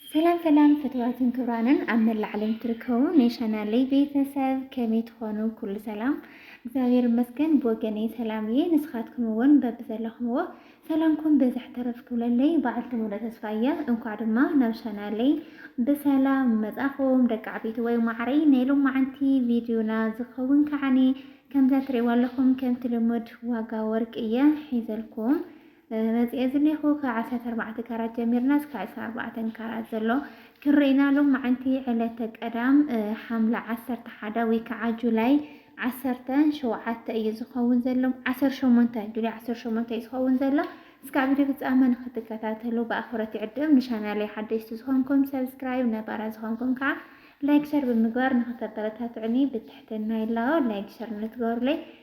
ሰላም ሰላም ፍትዋትን ክብራንን ኣብ መላእ ዓለም ትርከቡ ናይ ቻናለይ ቤተሰብ ከመይ ትኾኑ? ኩሉ ሰላም እግዚኣብሔር ይመስገን ብወገነይ ሰላም እየ። ንስኻትኩም እውን በብዘለኹምዎ ሰላምኩም በዝሕ ተረፍ ክብለለይ በዓልቲ ሙሉ ተስፋ እያ። እንኳዕ ድማ ናብ ቻናለይ ብሰላም መጻኹም ደቂ ዓበይቲ ወይ ማዕረይ ናይ ሎማዓንቲ ቪድዮና ዝኸውን ከዓኒ ከምዛ ትሪእዋ ኣለኹም ከምቲ ልሙድ ዋጋ ወርቂ እየ ሒዘልኩም መጺኤ ዝኔኹ ካብ ዓሰርተ ኣርባዕተ ካራት ጀሚርና እስካዕ ዕስራን ኣርባዕተን ካራት ዘሎ ክንርኢ ኢና ሎምዓንቲ ዕለተ ቀዳም ሓምለ ዓሰርተ ሓደ ወይ ከዓ ጁላይ ዓሰርተ ሸውዓተ እዩ ዝኸውን ዘሎ ዓሰርተ ሸሞንተ ጁላይ ዓሰርተ ሸሞንተ እዩ ዝኸውን ዘሎ እስካዕ ቪድዮ ፍጻመ ንክትከታተሉ ብኣኽብረት ይዕድም ንቻናለይ ሓደሽቲ ዝኾንኩም ሰብስክራይብ ነባራ ዝኾንኩም ከዓ ላይክ ሸር ብምግባር ንክተበረታትዑኒ ብትሕትና ይላቦ ላይክ ሸር ንትገብሩለይ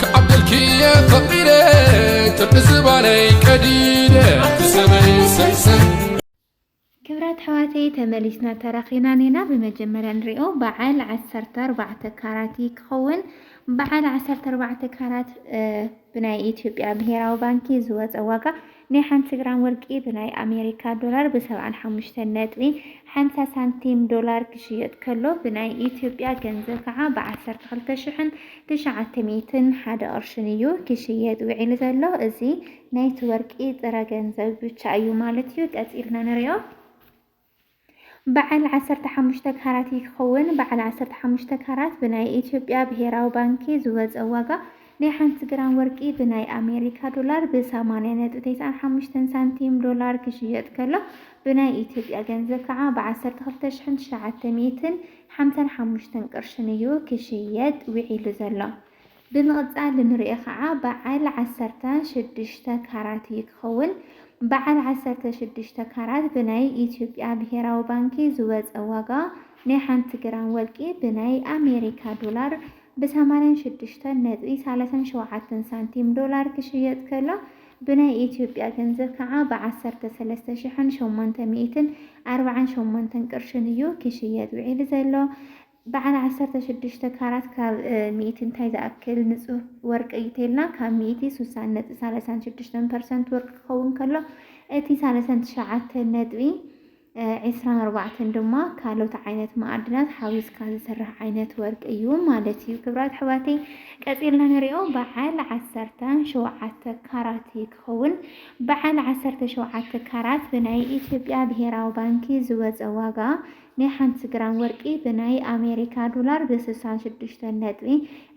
ክዓብደልኪየ ፈቂደ ጥርቂ ዝባነይ ቀዲደ ሰበይ ሰይሰይ ክብራት ኣሕዋተይ ተመሊስና ተራኺብና ኔና ብመጀመርያ ንሪኦ በዓል ዓሰርተ ኣርባዕተ ካራት ክኸውን በዓል ዓሰርተ ኣርባዕተ ካራት ብናይ ኢትዮጵያ ብሄራዊ ባንኪ ዝወፀ ዋጋ ናይ ሓንቲ ግራም ወርቂ ብናይ ኣሜሪካ ዶላር ብ ሰብዓን ሓሙሽተን ነጥቢ ሓምሳ ሳንቲም፣ ዶላር፣ ክሽየጥ ከሎ ብናይ ኢትዮጵያ ገንዘብ ከዓ ብ ዓሰርተ ክልተ ሽሕን ትሽዓተ ሚእትን ሓደ ቅርሽን እዩ ክሽየጥ ውዒሉ ዘሎ። እዚ ናይቲ ወርቂ ጥረ ገንዘብ ብቻ እዩ ማለት እዩ። ቀፂልና ንሪኦ። በዓል ዓሰርተ ሓሙሽተ ካራት እዩ ክኸውን። በዓል ዓሰርተ ሓሙሽተ ካራት ብናይ ኢትዮጵያ ብሄራዊ ባንኪ ዝወፀ ዋጋ ናይ ሓንቲ ግራም ወርቂ ብናይ ኣሜሪካ ዶላር ብ ሰማንያ ነጥቢ ተስዓን ሓሙሽተን ሳንቲም ዶላር ክሽየጥ ከሎ ብናይ ኢትዮጵያ ገንዘብ ከዓ ብ ዓሰርተ ክልተ ሽሕን ትሽዓተ ሚእትን ሓምሳን ሓሙሽተን ቅርሽን እዩ ክሽየጥ ውዒሉ ዘሎ። ብምቕጻል እንርእዮ ከኣ በዓል ዓሰርተ ሽዱሽተ ካራት እዩ ክኸውን። በዓል ዓሰርተ ሽዱሽተ ካራት ብናይ ኢትዮጵያ ብሄራዊ ባንኪ ዝወጸ ዋጋ ናይ ሓንቲ ግራም ወርቂ ብናይ ኣሜሪካ ዶላር ብ ሰማንያን ሽዱሽተን ነጥቢ ሰላሳን ሸውዓተን ሳንቲም ዶላር ክሽየጥ ከሎ ብናይ ኢትዮጵያ ገንዘብ ከኣ ብ ዓሰርተ ሰለስተ ሽሕን ሸሞንተ ሚእትን ኣርብዓን ሸሞንተን ቅርሽን እዩ ክሽየጥ ውዒሉ ዘሎ። በዓል ዓሰርተ ሽዱሽተ ካራት ካብ ሚእቲ እንታይ ዝኣክል ንፁህ ወርቂ እዩ ተይልና? ካብ ሚእቲ ሱሳን ነጥቢ ሳለሳን ሽዱሽተን ፐርሰንት ወርቂ ክኸውን ከሎ እቲ ሳለሳን ትሽዓተን ነጥቢ ዒስራን ኣርባዕተን ድማ ካልኦት ዓይነት መኣድናት ሓዊስካ ዝስራሕ ዓይነት ወርቂ እዩ ማለት እዩ። ክብራት ኣሕዋተይ ቀፂልና ንሪኦ በዓል ዓሰርተ ሸውዓተ ካራት እዩ ክኸውን። በዓል ዓሰርተ ሸውዓተ ካራት ብናይ ኢትዮጵያ ብሄራዊ ባንኪ ዝወፀ ዋጋ ናይ ሓንቲ ግራም ወርቂ ብናይ ኣሜሪካ ዶላር ብ ስሳን ሽዱሽተን ነጥቢ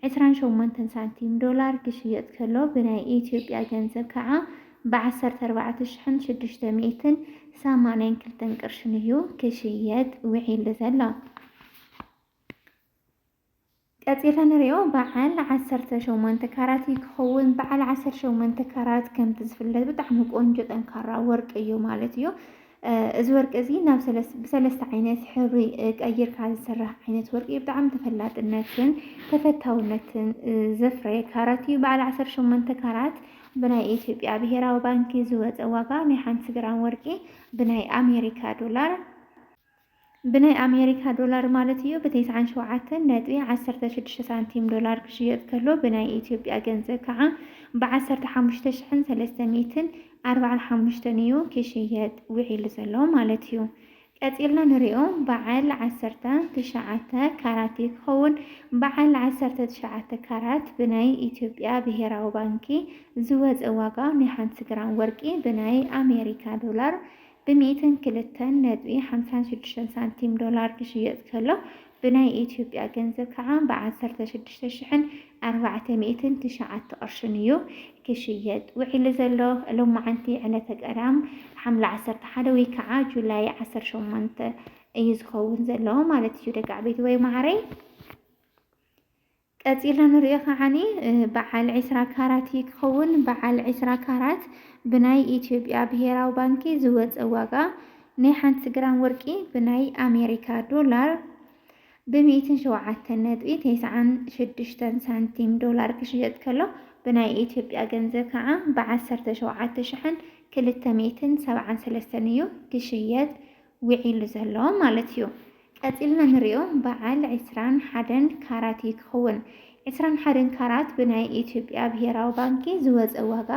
ዕስራን ሸሞንተን ሳንቲም ዶላር ክሽየጥ ከሎ ብናይ ኢትዮጵያ ገንዘብ ከዓ ብ ዓሰርተ ኣርባዕተ ሽሕን ሽዱሽተ ሚእትን ሰማንያን ክልተን ቅርሽን እዩ ክሽየጥ ውዒሉ ዘሎ። ቀጺልና ንሪኦ በዓል ዓሰርተ ሸሞንተ ካራት እዩ ክኸውን። በዓል ዓሰርተ ሸሞንተ ካራት ከምቲ ዝፍለጥ ብጣዕሚ ቆንጆ ጠንካራ ወርቂ እዩ ማለት እዩ። እዚ ወርቂ እዚ ናብ ብሰለስተ ዓይነት ሕብሪ ቀይርካ ዝስራሕ ዓይነት ወርቂ ብጣዕሚ ተፈላጥነትን ተፈታውነትን ዘፍረየ ካራት እዩ። በዓል ዓሰርተ ሸሞንተ ካራት ብናይ ኢትዮጵያ ብሄራዊ ባንኪ ዝወፀ ዋጋ ናይ ሓንቲ ግራም ወርቂ ብናይ ኣሜሪካ ዶላር ብናይ ኣሜሪካ ዶላር ማለት እዩ፣ ብቴስዓን ሸውዓተን ነጥቢ ዓሰርተ ሽዱሽተ ሳንቲም ዶላር ክሽየጥ ከሎ ብናይ ኢትዮጵያ ገንዘብ ከዓ ብዓሰርተ ሓሙሽተ ሽሕን ሰለስተ ሚእትን ኣርባዓን ሓሙሽተን እዩ ክሽየጥ ውዒሉ ዘሎ ማለት እዩ። ቀጺልና ንሪኦ በዓል ዓሰርተ ትሽዓተ ካራት እዩ ክኸውን። በዓል ዓሰርተ ትሽዓተ ካራት ብናይ ኢትዮጵያ ብሄራዊ ባንኪ ዝወፀ ዋጋ ናይ ሓንቲ ግራም ወርቂ ብናይ ኣሜሪካ ዶላር ብሚእትን ክልተን ነጥቢ ሓምሳን ሽዱሽተን ሳንቲም ዶላር ክሽየጥ ከሎ ብናይ ኢትዮጵያ ገንዘብ ከዓ ብዓሰርተ ሽዱሽተ ሽሕን ኣርባዕተ ሚእትን ትሽዓተ ቅርሽን እዩ ክሽየጥ ውዒሉ ዘሎ። ሎማዓንቲ ዕለተ ቀዳም ሓምለ ዓሰርተ ሓደ ወይ ከዓ ጁላይ ዓሰርተ ሸሞንተ እዩ ዝኸውን ዘሎ ማለት እዩ ደቂ ዓበይቲ ወይ ማዓረይ። ቀጺልና ንሪኦ ከዓኒ በዓል ዕስራ ካራት እዩ ክኸውን። በዓል ዕስራ ካራት ብናይ ኢትዮጵያ ብሄራዊ ባንኪ ዝወፀ ዋጋ ናይ ሓንቲ ግራም ወርቂ ብናይ ኣሜሪካ ዶላር ብሚእትን ሸውዓተን ነጥቢ ቴስዓን ሽዱሽተን ሳንቲም ዶላር ክሽየጥ ከሎ ብናይ ኢትዮጵያ ገንዘብ ከዓ ብዓሰርተ ሸውዓተ ሽሕን ክልተ ሚእትን ሰብዓን ሰለስተን እዩ ክሽየጥ ዊዒሉ ዘሎ ማለት እዩ። ቀጺልና ንሪኦ በዓል ዕስራን ሓደን ካራት እዩ ክኽውን። ዕስራን ሓደን ካራት ብናይ ኢትዮጵያ ብሄራዊ ባንኪ ዝወጸ ዋጋ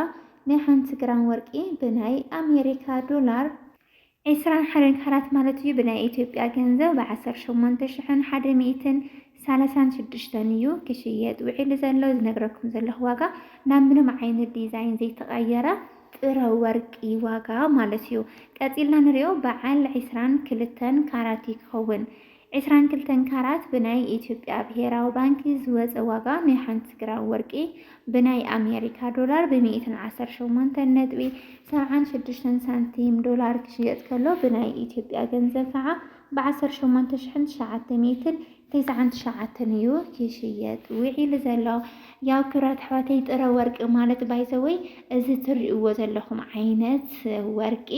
ናይ ሓንቲ ግራም ወርቂ ብናይ ኣሜሪካ ዶላር፣ ዕስራን ሓደን ካራት ማለት እዩ ብናይ ኢትዮጵያ ገንዘብ ብዓሰርተ ሸሞንተ ሽሕን ሓደ ሚእትን ሳላሳን ሽዱሽተን እዩ ክሽየጥ ውዒሉ ዘሎ ዝነግረኩም ዘለኹ ዋጋ ናብ ምንም ዓይነት ዲዛይን ዘይተቀየረ ጥረ ወርቂ ዋጋ ማለት እዩ ቀጺልና ንሪኦ በዓል ዕስራን ክልተን ካራት እዩ ክኸውን ዕስራን ክልተን ካራት ብናይ ኢትዮጵያ ብሄራዊ ባንኪ ዝወጸ ዋጋ ናይ ሓንቲ ግራም ወርቂ ብናይ ኣሜሪካ ዶላር ብሚእትን ዓሰርተ ሸሞንተን ነጥቢ ሰብዓን ሽዱሽተን ሳንቲም ዶላር ክሽየጥ ከሎ ብናይ ኢትዮጵያ ገንዘብ ከዓ ብ ዓሰርተ ሸሞንተ ሽሕን ትሽዓተ ሚእትን ተስዓን ትሽዓተን እዩ ክሽየጥ ዊዒሉ ዘሎ ያው ክብራት ኣሕዋተይ ጥረ ወርቂ ማለት ባይዘወይ እዚ ትሪእዎ ዘለኹም ዓይነት ወርቂ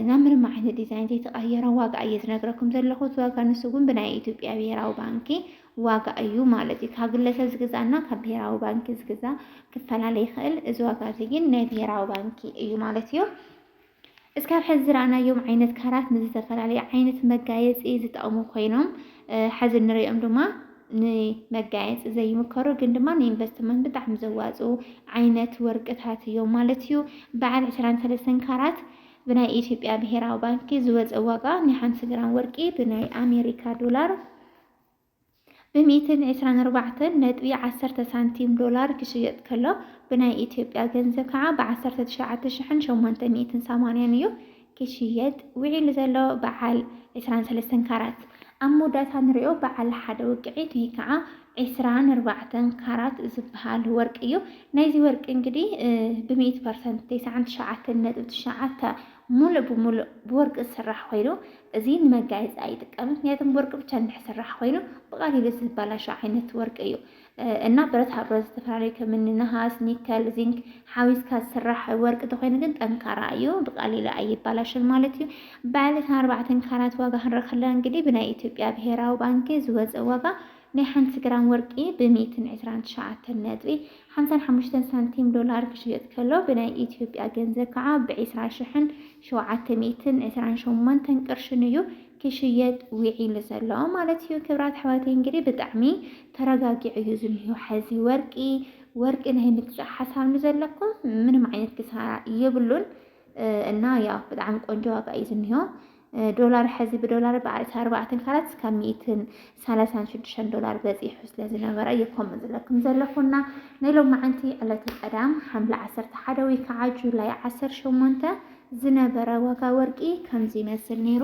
ናብ ምንም ዓይነት ዲዛይን ዘይተቐየረ ዋጋ እየ ዝነግረኩም ዘለኹ። እቲ ዋጋ ንሱ ግን ብናይ ኢትዮጵያ ብሄራዊ ባንኪ ዋጋ እዩ ማለት እዩ። ካብ ግለሰብ ዝግዛእ እና ካብ ብሄራዊ ባንኪ ዝግዛእ ክፈላለ ይኽእል። እዚ ዋጋ እዚ ግን ናይ ብሄራዊ ባንኪ እዩ ማለት እዩ። እስካብ ሕዚ ዝረኣናዮም ዓይነት ካራት ንዝተፈላለዩ ዓይነት መጋየፂ ዝጠቕሙ ኮይኖም ሐዚ እንሪኦም ድማ ንመጋየፂ ዘይምከሩ ግን ድማ ንኢንቨስትመንት ብጣዕሚ ዘዋፅኡ ዓይነት ወርቅታት እዮም ማለት እዩ። በዓል ዕስራን ሰለስተን ካራት ብናይ ኢትዮጵያ ብሄራዊ ባንኪ ዝወፀ ዋጋ ናይ ሓንቲ ግራም ወርቂ ብናይ ኣሜሪካ ዶላር ብ ሚእትን ዕስራን ኣርባዕተን ነጥቢ ዓሰርተ ሳንቲም ዶላር ክሽየጥ ከሎ ብናይ ኢትዮጵያ ገንዘብ ከዓ ብ ዓሰርተ ትሽዓተ ሽሕን ሸሞንተ ሚእትን ሰማንያን እዩ ክሽየጥ ውዒሉ ዘሎ በዓል ዕስራን ሰለስተን ካራት ኣብ መወዳእታ ንሪኦ በዓል ሓደ ውቅዒት ወይ ከዓ ዕስራን ኣርባዕተን ካራት ዝበሃል ወርቂ እዩ ናይዚ ወርቂ እንግዲ ብ ሚእቲ ፐርሰንት ተስዓን ትሽዓተን ነጥቢ ትሽዓተ ሙሉእ ብሙሉእ ብወርቂ ዝስራሕ ኮይኑ እዚ ንመጋየፂ ኣይጥቀምን ምክንያቱም ብወርቂ ብቻ እንድሕር ስራሕ ኮይኑ ብቀሊሉ ዝበላሾ ዓይነት ወርቂ እዩ እና ብረታ ብረት ዝተፈላለዩ ከምኒ ነሃስ፣ ኒከል፣ ዚንክ ሓዊስካ ዝስራሕ ወርቂ ተኮይኑ ግን ጠንካራ እዩ ብቀሊሉ ኣይባላሽን ማለት እዩ። በዓለት ኣርባዕተን ካራት ዋጋ ክንረክለ እንግዲህ ብናይ ኢትዮጵያ ብሄራዊ ባንኪ ዝወፀ ዋጋ ናይ ሓንቲ ግራም ወርቂ ብ ሚእትን ዕስራን ትሽዓተን ነጥቢ ሓምሳን ሓሙሽተን ሳንቲም ዶላር ክሽየጥ ከሎ ብናይ ኢትዮጵያ ገንዘብ ከዓ ብ ዕስራ ሽሕን ሸውዓተ ሚእትን ዕስራን ሸሞንተን ቅርሽን እዩ ክሽየጥ ዊዒሉ ዘሎ ማለት እዩ ክብራት ኣሕዋተይ እንግዲህ ብጣዕሚ ተረጋጊዑ እዩ ዝኒሆ ሐዚ ወርቂ ወርቂ ናይ ምግዛእ ሓሳብ ንዘለኩም ምንም ዓይነት ክሳራ የብሉን። እና ያው ብጣዕሚ ቆንጆ ዋጋ እዩ ዝኒሆ ዶላር ሕዚ ብዶላር ብዓርሲ ኣርባዕተን ካላት እስካብ ሚእትን ሰላሳን ሽዱሽተን ዶላር በፂሑ ስለ ዝነበረ እዩ ከምኡ ዝለኩም ዘለኹና ናይ ሎማዓንቲ ዕለተ ቀዳም ሓምለ ዓሰርተ ሓደ ወይ ከዓ ጁላይ ዓሰርተ ሸሞንተ ዝነበረ ዋጋ ወርቂ ከምዚ ይመስል ነይሩ።